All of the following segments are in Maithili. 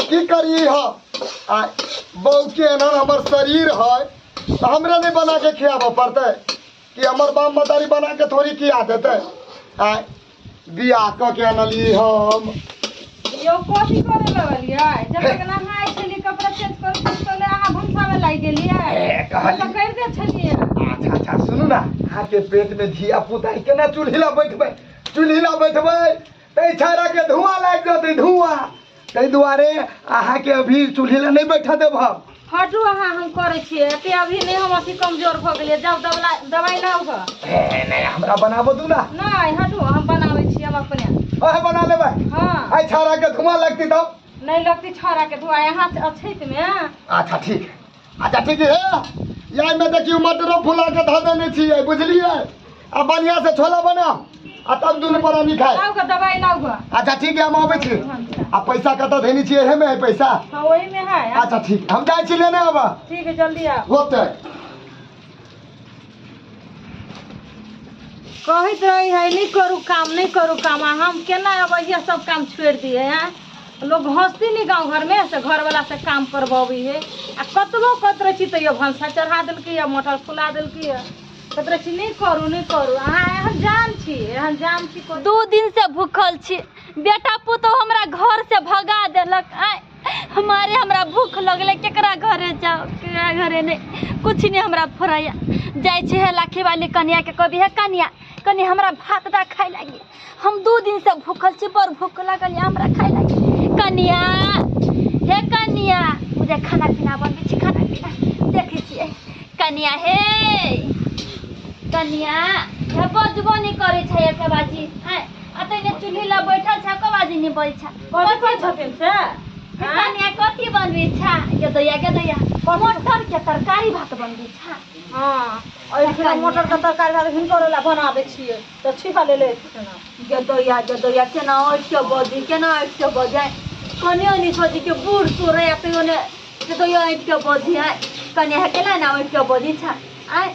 की करी हा आ बहू के एना हमर शरीर है तो हमरा नहीं बना के खियाबऽ पड़तै कि हमर बाप मतारी बना के थोड़ी खिया देतै आ बियाह कऽ के अनली हम यो कथी करे लगलियै जब तक नहाय छलियै कपड़ा चेंज कर तले अहाँ भूसा में लागि गेलियै ए, कहली। तऽ करि दै छलियै अच्छा अच्छा सुनू ना अहाँके पेट में धिया पुता है, केना चूल्हिला बैठबै चूल्हिला बैठबै तै छाड़ा के धुआं लाग जतै धुआं तै दुआरे अहाँ के अभी चूल्हे ले नहीं बैठा देब हम हटू अहाँ हम करै छियै एते अभी नहि हम अथी कमजोर भऽ गेलियै जब दबला दवाइ लाउ ग ए, नहीं हमरा बनाबो दू ना नहि हटू हम बनाबै छी हम अपने ओहे बना लेबै हँ आइ छाड़ा के धुआं लगती तब नहि लगती छौड़ा के धुआँ यहाँ से अछैत मे अच्छा ठीक है अच्छा ठीक है यही में देखियो मटरो फुला के धऽ देने छियै बुझलियै आ बढ़िया से छोला बना आ तब दुनू परानी खाए लाउ के दवाई लाउ ग अच्छा ठीक है हम आबै छी आ पैसा कतऽ धेने छियै एहे में है पैसा हाँ वही में है अच्छा ठीक हम जाइ छी लेने आबऽ ठीक है जल्दी आओ होतै कहैत रही है नहीं करू काम नहीं करू काम आ हम केना अब ये सब काम छोड़ दिए हैं लोग हंसती नहीं गांव घर में से घर वाला से काम करबी है आ कतबो कहत रही तो ये भंसा चढ़ा दिलकी है मोटर फुला दिलकी है कहत रही नहीं करू नहीं करू अहाँ एहन जान छी एहन जान छी कोई दू दिन से भूखल छी बेटा पुतोह हमरा घर से भगा देलक आय हमारे हमरा भूख लगले केकरा घरे जाओ केकरा घरे नहीं कुछ नहीं हमरा फरैया जाय छे है लाखी वाली कन्या के कभी है कन्या कनी हमरा भात दा खाए लागी हम दू दिन से भूखल छी बड़ भूख लगल या हमरा खाए लागी कन्या हे कन्या मुझे खाना पीना बनबे छी खाना पीना देखे छिए कन्या हे कन्या हे बजबो नहीं करे छै एक बाजी हैं अतने चूल्ही ला बैठल छै एको बाजी नहीं बोल छै कथी कहै छथिन से कनिया कथी बनबी छा के दैया के दैया मटर के तरकारी भात बनबी छा हाँ और एकरा मटर का तरकारी भात हिनको ला बना दै छियै तऽ छिपा ले ले एथिन ना। के दैया के दैया केना ऐठ के बजी केना ऐठ के बजे कने ओनी छोजी के बूढ़ सोरे या पे ओने के दैया ऐठ के बजी है कने है केला ना ऐठ के बजी छा आय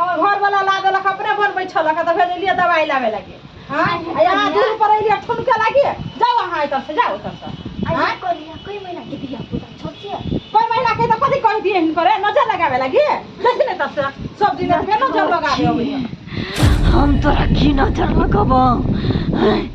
हमर घर वाला ला देलक अपने बनबै छलक तऽ भेल एलियै दवाई लाबे लागी हाँ आ यहाँ दूर पर एलियै ठुनके लागी जाओ अहाँ एतऽ से जाओ एतऽ से हाँ? कोई महीना के दिया पूरा छोड़ दिया कोई महिला के तऽ कथी कहि दिए हिनकर नजर लगाबे लागी देखी ने एतऽ से सब दिन एतबे नजर लगाबे अबैया हम तोरा की नजर लगबौ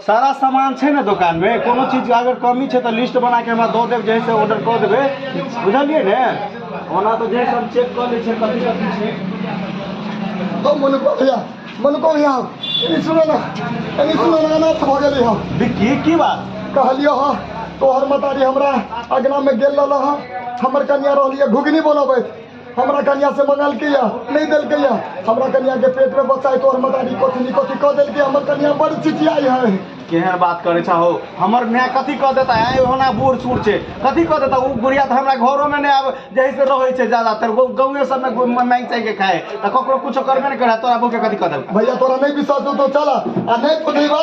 सारा सामान छै ने दोकानमे कोनो चीज अगर कमी छै तऽ लिस्ट बनाके हमरा दऽ देब जैसे ऑर्डर कऽ देबै बुझलियै ने ओना तऽ जे सब चेक कऽ लै छै कथी कथी छै तो मन को भैया मन को भैया एनी सुनो ना एनी सुनो ना ना भऽ गेलै हम विक्की की बात कहलियो हँ तोहर मतारी हमरा अगना में गेल रहल हँ हमर कनिया रहलियै घुघनी बनबैत हमरा कनिया से मंगलके या नहीं दिलके या हमरा कनिया के पेट में बच्चा है तो और मदारी कथी नहीं कथी कह दिलके हमर कनिया बड़ चिचियाई है केहन बात करे छा हो हमर न्या कथी कह देता है होना बूढ़ सूढ़ छै कथी कह देता उ बुढ़िया तऽ हमरा घरो में नहि आब जहि से रहै छै ज्यादातर गौ- गाँवे सब में घूम- मांगि चाहि के खाए तऽ ककरो कुछो करबे नहि करे तोरा बहू के कथी कह देलकै भैया तोरा नहीं विश्वास हो तो चला आ नहीं तो नहीं बा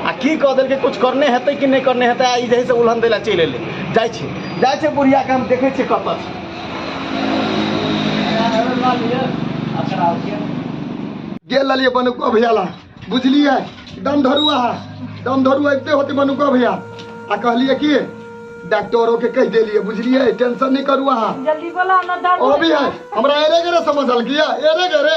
आ की कह देलकै कुछ करने हेतै कि नहि करने हेतै आ ई जे है से उल्हन दै लए चलि एलै जाइ छै जाइ छै बुढ़ियाके हम देखै छियै कतऽ छै गेल रहलियै बनुआ भैया ला बुझलियै दम धरू अहाँ दम धरू अबिते होते बनुआ भैया आ कहलियै कि डॉक्टरो के कहि देलियै बुझलियै टेंशन नहि करू अहाँ जल्दी बोला ना दर्द अभी है हमरा एरे गरे समझल किया एरे गरे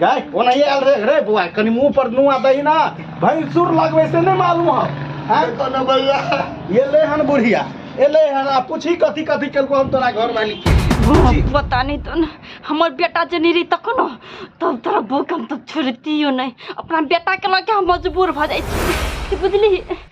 गाय कोना ये आयल रे रे बुआ कनी मुंह पर नुआ दही ना भैंसुर लगवे से नहीं मालूम हो हैं? कोनो भैया ये ले हन बुढ़िया ए ले हन आ पूछी कथी कथी केलको हम तोरा घर वाली पूछी। पता नहीं तो न, हमर बेटा जनी रही तक न तब तोरा बौक हम तब छोड़तियो नहीं अपना बेटा के लगे हम मजबूर भऽ जाइ छी बुझली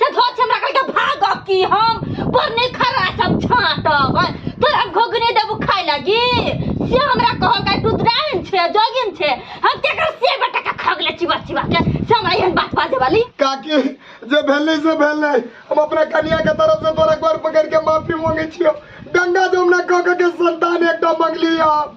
से धो छै हमरा कहलकै भागब की हम पर नहि खड़ा सब छाँटब हँ। तोरा घोघने देबू खाय लागी से हमरा कहलकै तू द्राइन छै जोगिन छै हम केकर से बेटा के खगले चिबा चिबा के से हमरा एहन बात बाजे वाली काकी जे भेलै से भेलै हम अपना कनिया के तरफ से तोरा गोर पकड़ के माफी मांगे छियो गंगा जमुना कह के संतान एकटा मंगली हम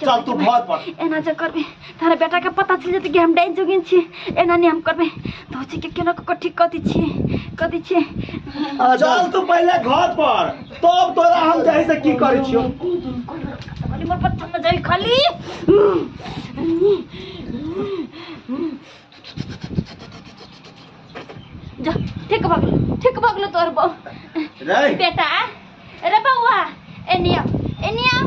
चल तू घर पर एना जे करबे तारा बेटा के पता चल जेते कि हम डाइन जोगिन छी एना नहीं हम करबे तो छी के केना को ठीक कर दी छी कर दी छी चल तू पहले घर पर तब तोरा हम जाहि से की करै छियो खाली मोर पत्थर में जाई खाली जा ठीक भऽ गेलो ठीक भऽ गेलो तोर बौ रे बेटा अरे बौआ एनिया एनिया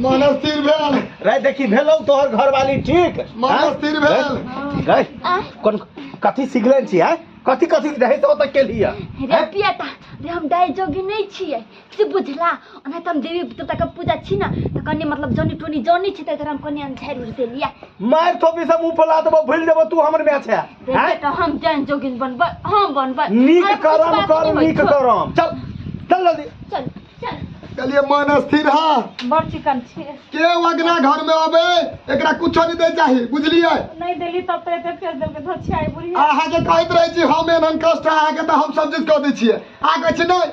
मानव स्थिर भेल रे देखी भेलौ तोहर घरवाली ठीक मानव स्थिर भेल रे आ कोन कथी सिखले छी है कथी कथी रहै तो ओतऽ केलियै रे बेटा रे हम डाय जोगी नहीं छियै से बुझला ओना त हम देवी देवता के पूजा छी ना त कनी मतलब जनी टोनी जनी छी त एकरा हम कनी हम झाड़ उड़ देलिया मार थोपी सब मुंह फैला देबो भूल देबो तू हमर मैच है देखे हैं? त हम जान जोगिन बनब हम बनब नीक अरे कुछ करम बात कर नहीं होई, नीक छोड़। करम चल चल जल्दी चल चल कहलिए मन स्थिर है बड़ चिकन छी के अगना घर में अबे एकरा कुछो नहीं दे चाहिए बुझलिए नहीं देली तब तो एते फेर देलके धोछियाई बुढ़िया अहाँ के कहैत रहे छी हम एहन कष्ट अहाँ के तऽ हम सब चीज कऽ दै छियै अहाँ कहै छी नहि